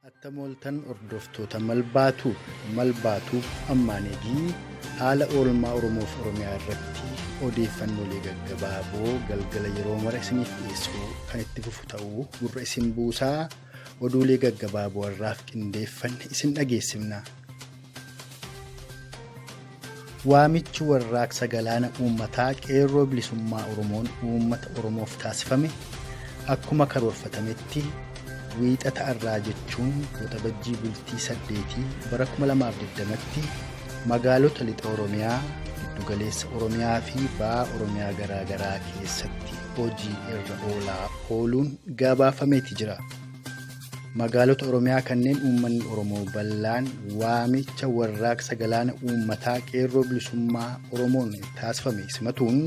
Attam ooltan hordoftoota Malbaatube. Malbaatube ammaan edii haala oolmaa Oromoof Oromiyaa irratti odeeffannoolee gaggabaaboo galgala yeroo mara isiniif dhiyeessuu kan itti fufu ta'uu gurra isin buusaa oduulee gaggabaaboo har'aaf qindeeffanne isin dhageessifna. Waamichi Warraaqsa Galaana Uummataa Qeerroo Bilisummaa Oromoon Uummata Oromoof taasifame akkuma karoorfatametti Wiixata har'aa jechuun Waxabajjii bultii 8 bara 2020tti magaalota Lixa Oromiyaa, Giddugaleessa Oromiyaa fi Baha Oromiyaa garaa garaa keessatti hojii irra oolaa ooluun gabaafameeti jira. Magaalota Oromiyaa kanneen uummanni Oromoo bal'aan waamicha warraaqsa galaana uummataa qeerroo bilisummaa Oromoon taasifame simatuun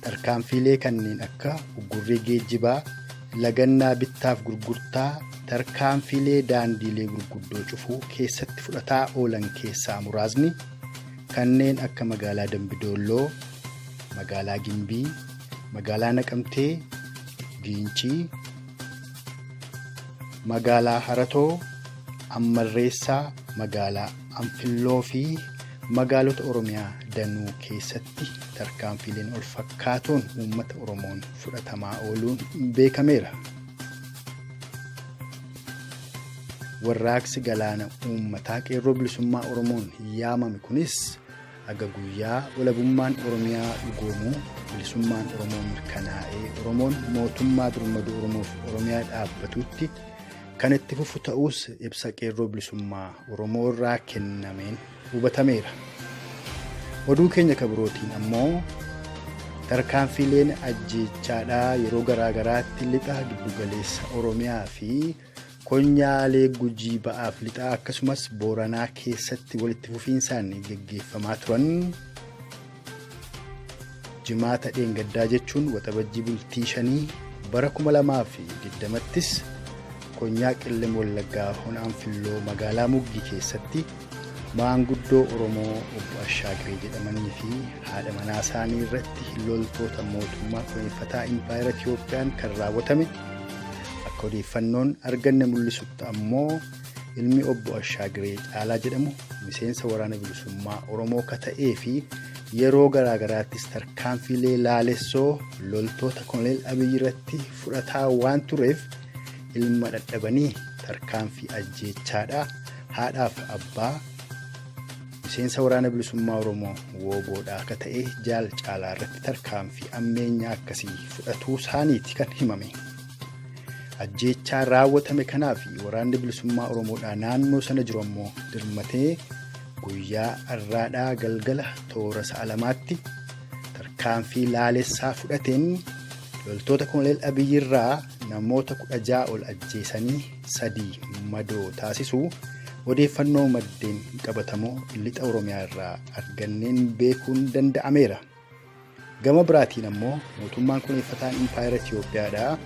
tarkaanfiilee kanneen akka uggurrii geejjibaa, lagannaa bittaaf gurgurtaa, tarkaanfiilee daandiilee gurguddoo cufuu keessatti fudhataa oolan keessaa muraasni kanneen akka magaalaa Dambidoolloo, magaalaa Gimbii, Magaalaa Naqamtee, Giincii, Magaalaa Haratoo, Ammarreessaa, Magaalaa Anfilloo fi magaalota Oromiyaa danuu keessatti tarkaanfiileen ol fakkaatoon uummata Oromoon fudhatamaa ooluun beekameera. Warraaqsi galaana uummataa qeerroo bilisummaa Oromoon yaamame kunis Haga guyyaa walabummaan Oromiyaa dhugoomu, bilisummaan Oromoo mirkanaa'ee, Oromoon mootummaa birmaduu Oromoof Oromiyaa dhaabbatutti kan itti fufu ta'uus ibsa qeerroo bilisummaa Oromoo irraa kennameen hubatameera. Oduu keenya kabirootiin ammoo tarkaanfiileen ajjeechaadhaa yeroo garaa garaatti lixa giddugaleessa Oromiyaa fi Konyaalee Gujii Ba'aaf Lixaa akkasumas Booranaa keessatti walitti fufiinsaan geggeeffamaa turan jimaata dheengaddaa jechuun waxabajjii bultii shanii bara 2020ttis konyaa Qellem Wallaggaa Honaan Filloo magaalaa Muggii keessatti Maanguddoo Oromoo Obbo Ashaagiree jedhamanii fi haadha manaa isaanii irratti loltoota mootummaa dhuunfataa Impaayera Itiyoophiyaan kan raawwatame akka odeeffannoon arganne mul'isutti ammoo ilmi Obbo Ashaagiree Caalaa jedhamu miseensa waraana bilisummaa Oromoo ka ta'ee fi yeroo garaagaraattis tarkaanfiilee laalessoo loltoota koloneel Abiyyi irratti fudhataa waan tureef ilma dhadhabanii tarkaanfii ajjeechaadha. haadhaaf abbaa miseensa waraana bilisummaa Oromoo wooboodhaa akka ta'e jaal caalaa irratti tarkaanfii ammeenyaa akkasii fudhatuu isaaniiti kan himame. Ajjeechaa raawwatame kanaa fi waraanni bilisummaa Oromoodhaa naannoo sana jiru ammoo dirmatee guyyaa arraadhaa galgala toora sa'a lamaatti tarkaanfii laalessaa fudhateen loltoota koloneel Abiyyirraa namoota kudha ja'a ol ajjeesanii 3 madoo taasisuu odeeffannoo maddeen qabatamoo lixa Oromiyaa irraa arganneen beekuun danda'ameera. Gama biraatiin ammoo mootummaan kuneeffataan Impaayera Itiyoophiyaadhaa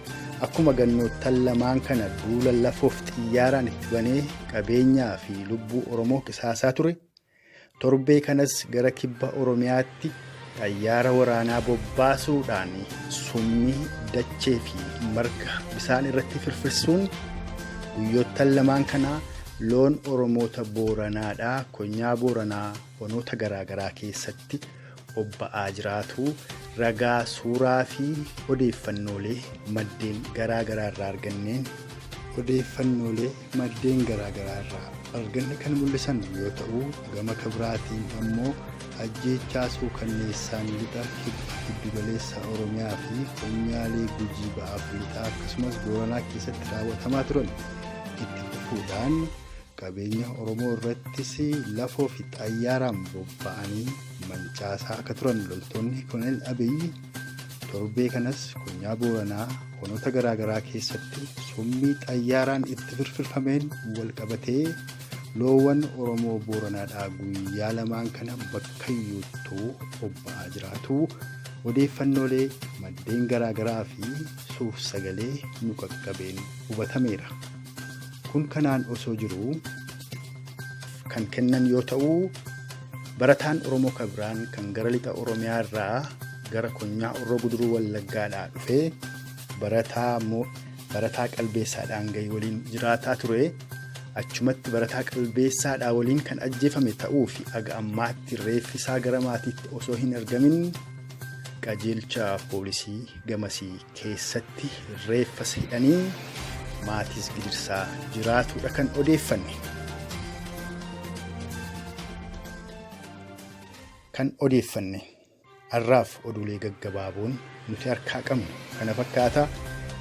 akkuma gannoottan lamaan kana duula lafoof xiyyaaraan itti banee qabeenyaa fi lubbuu Oromoo qisaasaa ture Torbee kanas gara kibba Oromiyaatti xayyaara waraanaa bobbaasuudhaan summii dachee fi marga bisaan irratti firfirsuun guyyoottan lamaan kana loon Oromoota Booranaadhaa konyaa Booranaa onoota garaa garaa keessatti bobba'aa jiraatu ragaa suuraa fi odeeffannoolee maddeen garaa garaa irraa arganneen odeeffannoolee maddeen garaa garaa irraa arganne kan mul'isan yoo ta'u gama kabiraatiin ammoo ajjeechaa suukanneessaan lixa kibba giddugaleessa oromiyaa fi konyaalee gujii ba'aaf lixaa akkasumas booranaa keessatti raawwatamaa turan itti fufuudhaan qabeenya Oromoo irrattis lafoo fi xayyaaraan bobba'anii mancaasaa akka turan loltoonni Kolonel Abiyyi torbee kanas konyaa Booranaa honoota garaagaraa keessatti summii xayyaaraan itti firfirfameen wal qabatee loowwan Oromoo Booranaadhaa guyyaa lamaan kana bakkayyuuttuu bobba'aa jiraatu odeeffannoolee maddeen garaagaraa fi suur sagalee nu qaqqabeen hubatameera. Kun kanaan osoo jiruu kan kennan yoo ta'u barataan Oromoo kan biraan kan gara lixa Oromiyaa irraa gara konyaa Horroo Guduruu Wallaggaadhaa dhufee barataa mo- barataa qalbeessaadhaan gahii waliin jiraataa ture achumatti barataa qalbeessaadhaa waliin kan ajjeefame ta'uu fi aga ammaatti reeffi isaa gara maatiitti osoo hin argamin qajeelcha poolisii gamasii keessatti reeffas hidhanii maatiis gidirsaa jiraatuudha kan odeeffanne. Kan odeeffanne har'aaf oduulee gaggabaaboon nuti harkaa qabnu kana fakkaata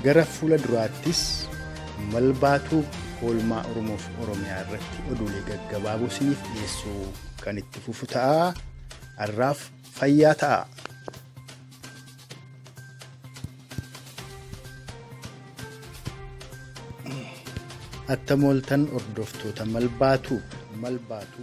gara fuula duraattis malbaatuu oolmaa Oromoof Oromiyaa irratti oduulee gaggabaaboo isiniif dhiyeessuu kan itti fufu ta'a. Har'aaf fayyaa ta'a. Attamooltan hordoftoota mal baatu mal baatu.